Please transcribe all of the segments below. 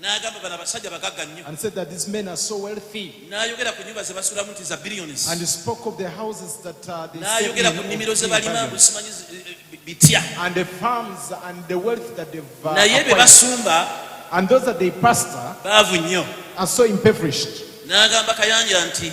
n'agamba bano abasajja bagagga nnyo and said that these men are so wealthy n'ayogera ku nnyumba ze basulamu nti za billions and he spoke of the houses that uh, they n'ayogera ku nnimiro ze balima mbu simanyi eh, eh, bitya and the farms and the wealth that they've uh, naye be basumba and those that they pastor baavu nnyo are so impoverished n'agamba kayangira nti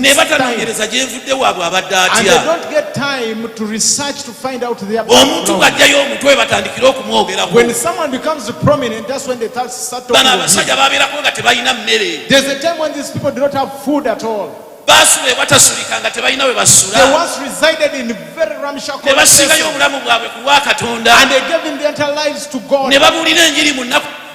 naye batanonyereza gyevudde waabwe abadde atyaomuntu bwajjayo omutwe webatandikire okumwogeraobano abasajja babeerako nga tebalina mmere baasula ewatasulika nga tebalina we basulanebasingayo obulamu bwabwe ku lwa katonda ne babuulira enjiri mu nnaku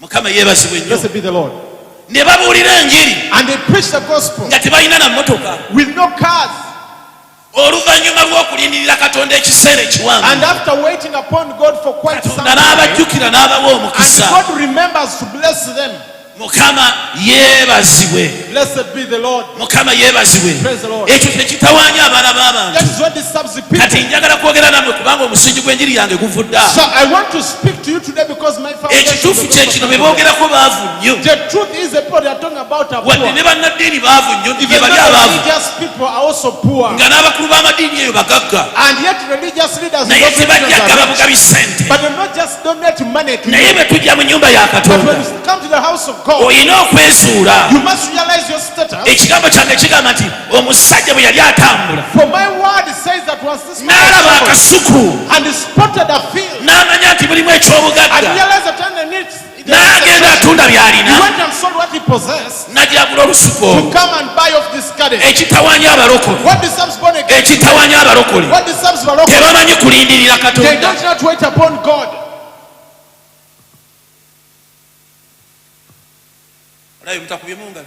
mukama yebazibwe nnyo ne babuulira enjiri nga tebalina na mmotoka oluvannyuma lw'okulindirira katonda ekiseera ekiwanvukatonda n'abajjukira n'abawa omukisa mukama yeebazibwe mukama yebazibwe ekyo kyekitawanya abaana b'abantu kati njagala kwogera namwe kubanga omusingi gw'enjiri yange guvudda ekituufu kyekino bebogerako baavu nnyo wadde ne bannaddiini baavu nnyo nti gyebali abaavu nga n'abakulu b'amadiini eyo bagagga naye tebajja gaba bugabi sente naye bwe tujja mu nyumba ya katonda olina okwezuula ekigambo kyange kigamba nti omusajja bwe yali atambula n'alaba akasuku n'amanya nti mulimu eky'obugagga n'agenda atunda by'alina najagula olusuku ekitawanya abalokole ekitawanya abalokole tebamanyi kulindirira katonda olabe mutakubye mungalo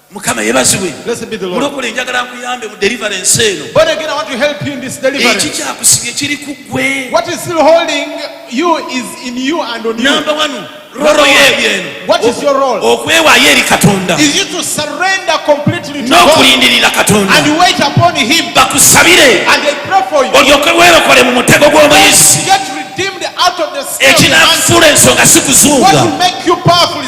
mukama yebazibwe mulokole njagala nkuyambe mu deliverance eno eki kyakusibye kiri ku gwe namba wanu roro yebyo eno okwewayo eri katonda n'okulindirira katonda bakusabire olyoke werokole mu mutego gw'omuyizi ekinakufuula ensonga sikuzunga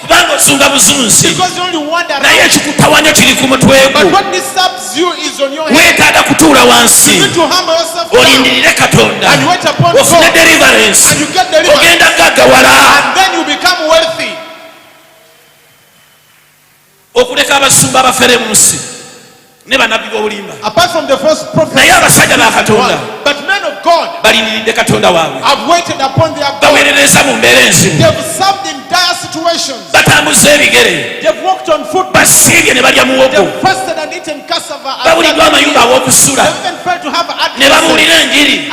kubanga ozunga buzunzi naye ekikutawanya kiri ku mutwegwewetaaga kutuula wansi olindirire katonda ofune deliverance ogenda gagawala okuleka abasumba abafere mu nsi ne banabbi b'obulimba naye abasajja ba katonda balindiridde katonda waabwe baweerereza mu mbeera enzibu batambuza ebigere basiibye ne balya muwogo babuliddwa amayumba aw'okusula ne babuulira enjiri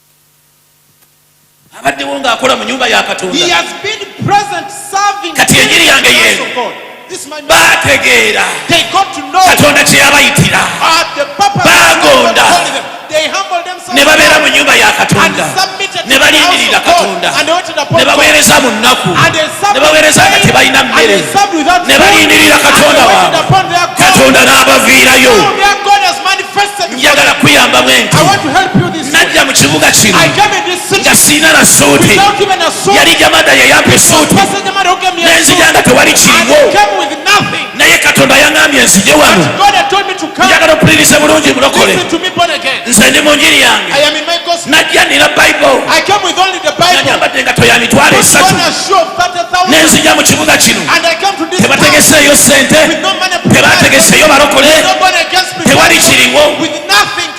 abaddewo ng'akola mu nyumba ya katonda kati enjiri yange yeeno baategeera katonda kye yabayitira baagonda ne babeera mu nyumba ya katonda ne balindirira katonda ne baweereza mu nnaku ne baweereza nga tebalina mmere ne balindirira katonda waabwe katonda n'abaviirayo njagala kuyambamu enti najja mu kibuga kino nga siina na suuti yali jamada yeyampa esuuti nenzija nga tewali kiriwo naye katonda yaŋambye nzije wano njagala okupuliriza bulungi mulokole nze ndi mu njiri yange najja nina bayibulnanyambadde engato ya mitwalo esatu nenzija mu kibuga kino tebategeseeyo sente tebategeseeyo balokole tewali kiriwo